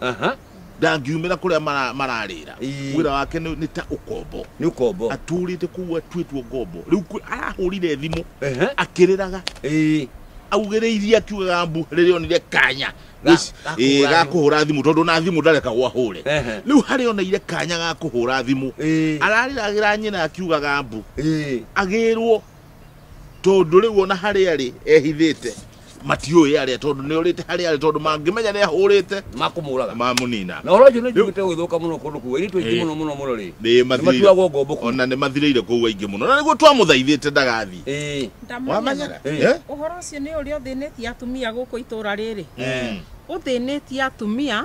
Aha. ndangiumĩra kũrĩa mara- mararĩra Ii. wĩra wake nĩ nĩ ta ũkombo nĩ ũkombo atũrĩte kũu atuĩtwo ngombo rĩu kwĩ- arahũrire thimũ Ehe. akĩrĩraga Ĩĩ. augĩrĩirie akiugaga mbu rĩrĩa onire kanya Ga- Wĩci- ga ĩĩ, kũhũra ga thimũ. kũhũra thimũ tondũ na thimũ ndareka gwahũre Ehe. rĩu harĩa oneire kanya ga kũhũra thimũ Ĩĩ. ararĩragĩra nyina akiugaga mbu Ĩĩ. agĩrwo tondũ rĩu ona harĩa rĩ ehithĩte matiũĩ arĩa tondũ nĩ orĩte harĩ arĩa tondũ mangĩmenya nĩ ahũrĩte makũmũraga mamũnina na ũronjũ nĩ njiguĩte gũthũka mũno kũndũ kũu airĩtu aingĩ mũno mũno mũno rĩ nĩ matuagwo ngombo kũu ona nĩ mathirĩire kũu aingĩ mũno na nĩguo twamũthaithĩte ndagathiĩ ĩĩ wamenya Eh. Eh? ũhoro ũcio nĩ ũrĩa ũthĩnĩtie atumia gũkũ itũra rĩrĩ Mm. ũthĩnĩtie atumia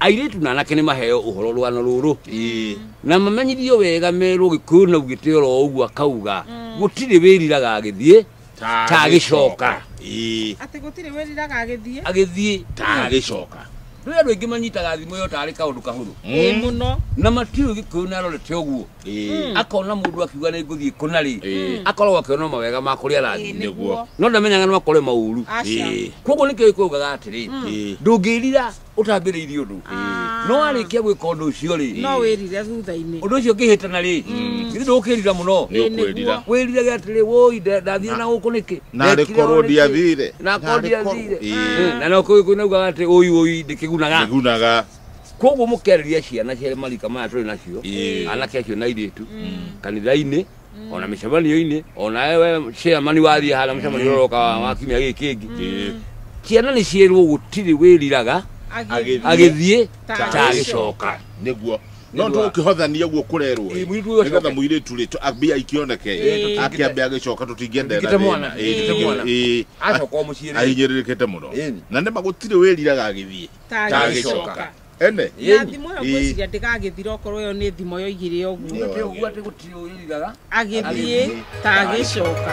airĩtu na anake nĩ maheo ũhoro rwano rũrũ Ĩĩ. na mamenyithio wega merwo gĩkũyũ na ugĩte oro ũguo akauga gũtirĩ wĩriraga agĩthiĩ Ta Ta agĩcoka. Ĩĩ. atĩ gũtirĩ wĩriraga agĩthiĩ agĩthiĩ Ta agĩcoka. rĩu andũ aingĩ manyitaga thimũ ĩyo tarĩ kaũndũ kahũthũ ĩ Mm. mũno na matiũĩ gĩkũyũ nĩ arorete ũguo Ĩĩ. akona mũndũ akiuga nĩ ngũthiĩ kũna rĩ Ĩĩ. akoragwo akĩona mawega ma kũrĩa Ĩ, arathiĩ nĩguo no ndamenyaga no akore maũru aca Ĩĩ. koguo nĩkĩo gĩkũyũ gĩkaga atĩrĩ Ĩĩ. ndũngĩrira ũtambĩrĩirie ũndũ no warĩkia gwĩka ũndũ ũcio rĩ no wĩrire thutha-inĩ ũndũ ũcio ũngĩhĩtana rĩ githĩ ndũkĩrira mũno nĩ ũkwĩrira wĩrirage atĩrĩ woi ndathire na gũkũ nĩkĩ narĩ Ndekire korwo ũũ nĩkĩ? ndiathire na korwo ndiathire Ĩĩ. na no kũu kũinaugaga atĩ ũi ũi ndĩkĩgunaga igunaga koguo mũkerĩria ciana cia marika maya tũrĩ nacio Ĩĩ. anake acio na airĩtu kanitha-inĩ ona mĩcemanio-inĩ ona ewe chairman wathiĩ hana mũcemanio ũrĩa ũroka wa- wa kiumia gĩkĩ kĩngĩ Ĩĩ. ciana nĩ ciĩrwo gũtirĩ wĩriraga Agĩthiĩ. agĩthiĩ Ta ta agĩcoka. agĩcoka nĩguo no Nĩguo. tũkĩhothania guo kũrerwo Ĩĩ, mũirĩtu ũyũ nĩgetha acoke. mũirĩtu rĩ tũ- mbia ikĩoneke Ĩĩ. akĩambe agĩcoka tũtingĩenda Tũtingĩte mwana, tũtingĩte mwana. acoka o mũciĩ rĩ. ahinyĩrĩrĩkĩte mũno Ĩĩ. na nĩma gũtirĩ wĩriraga agĩthiĩ Ta Ta agĩcoka. agĩcoka. ene na thimo ĩyo Ĩĩ. ngwĩciria ndĩgagĩthira okorwo ĩyo nĩ thimo yoigire ũguo Nĩ ũndũ ũguo atĩ gũtirĩ ũrĩrigaga agĩthiĩ Agĩthiĩ. ta agĩcoka